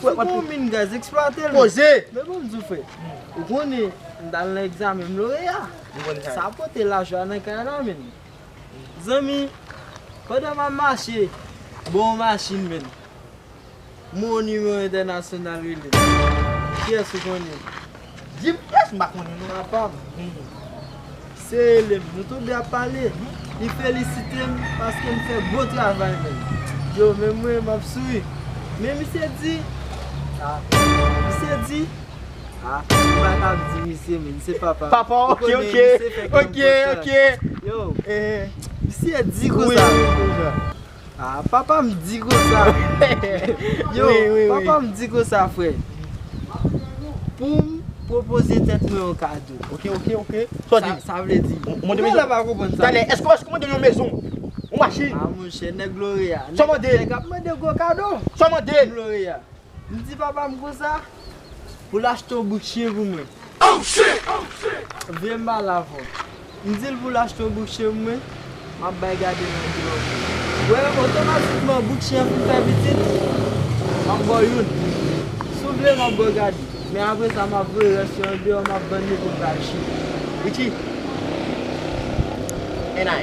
Sou pou yon min gaz, eksplwate l. Poze! Men banm di w frè, ou konnen m t al nan egzamen m loreya. Sa m pote lajan an nan kay la menn. Zanmi, pandan m ap mache, m wè yon machin menn. M wè yon nimewo entènasyonal rele m. Kiyès ou konnen? Dim kiyès m pa konnen non. Sa pa bon. Se elèv nou tou 2 ap pale. Li felisite m paske m fè bon travay menm. Yo menm mwen m ap souri. Men misye di. Sa. Misye di. Sa. Ou pa ka ap di misye menm. Se papa m. Papa w. Ok ok. Ok ok. Yo. Misye di konsa. Wi. Ah papa m di konsa Yo papa m di konsa frè Pou m pwopoze tèt mwen yon kado Ok ok ok Sa w di Sa vle di Mwen menm la pa konprann sa Talè èske w mande yon mezon Yon machin Ah monchè nèg Loreya Sa w mande Nèg ap mande gwo kado Sa w mande Nèg Loreya M di papa m konsa pou l achte yon bouk chyen pou mwen. Vye m pa lavon. M di l pou l achte yon bouk chyen pou mwen, m ap bay gade nan biwo m. Wè, otomatikman bouk chyen an fin fè pitit, m ap ba w youn. Si w vle, m ap ba w gade. Men apre sa, m ap voye rès yo andeyò, m ap vann yo pou m ka achte. Ritchie, NI.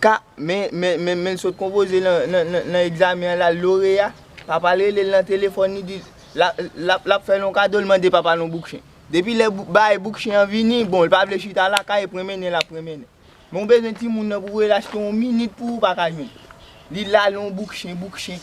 K, Men, men, men, men l sot konpoze lan, lan, lan, lan egzamen an l al loreya, papa l rele l nan telefòn li di l, l ap, l ap, l ap fè l yon kado l mande papa l yon bouk chen. Depi lè bouk, bagay bouk chen an vini, bon, l pa vle chita lakay e prenmennen l ap prenmennen. Men w bezwen timoun nan pou w rele l achte yon minit pou ou pa ka jwenn. Li l al yon bouk chen, bouk chen.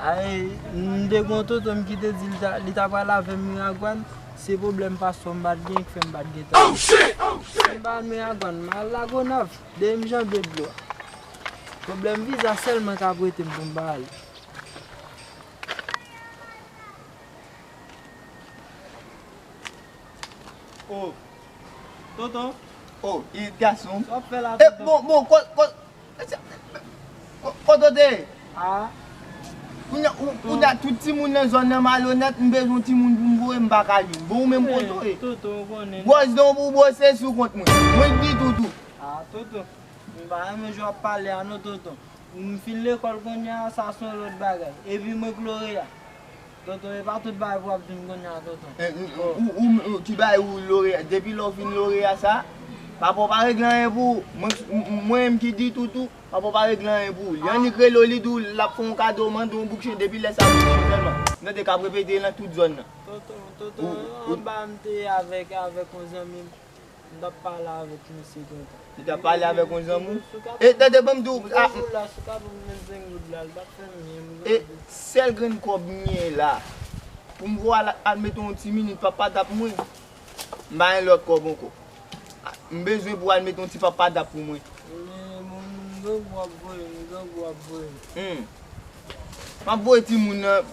M te gen yon tonton m ki te di li ta pral avè m Miragwàn, se pwoblèm paspò m pa t genyen ki fè m pa t gen tan ale. Si m pa al Miragwàn, m al Lagonav, dèyè m janbe dlo a. Pwoblèm viza sèlman k ap wete m pou m pa ale. O, tonton! O, Irit gason! Sa w ap fè la tonton? Bon, bon, kòz, kòz! Kotote a Kounya tout timoun nan zòn nan malonèt m bezwen yon timoun pou m voye m paka jwenn bon ou menm koto ye Gwòs dan w pou w bwose sou kont mwen Mwen t di toutou a Toutou m pa renmen jan w ap pale a non tonton M fin lekòl kounya sa s on lòt bagay Epi mwen k loreya. Tonton epa tout bagay pou wap jwenn kounye a tonton ou ki bay ou loreya depi lè ou fin loreya sa papa ou pa regle anyen pou ou mwen menm ki di tout ou papa ou pa regle anyen pou ou li annik rele ou li di ou lap fè yon kado ou mande yon bouk chen depi lè sa ou jwenn sèlman nou te kap repete nan tout zòn nan tonton tonton anba mte avèk yon zanmim. M tap pale avek misye gentan. Li tap pale avek yon zanmi w. E tande banm di w. M te jou la si w ka banm menm 5 goud la li tap fè m byen m gade. E sèl grenn kòb m genyen la. Pou m voye al mete yon ti minit papadap mwen. M pa gen lòt kòb ankò. M bezwen pou al mete yon ti papadap pou mwen. Mwen m gade w ap voye m gade w ap voye m. Map voye timoun nan.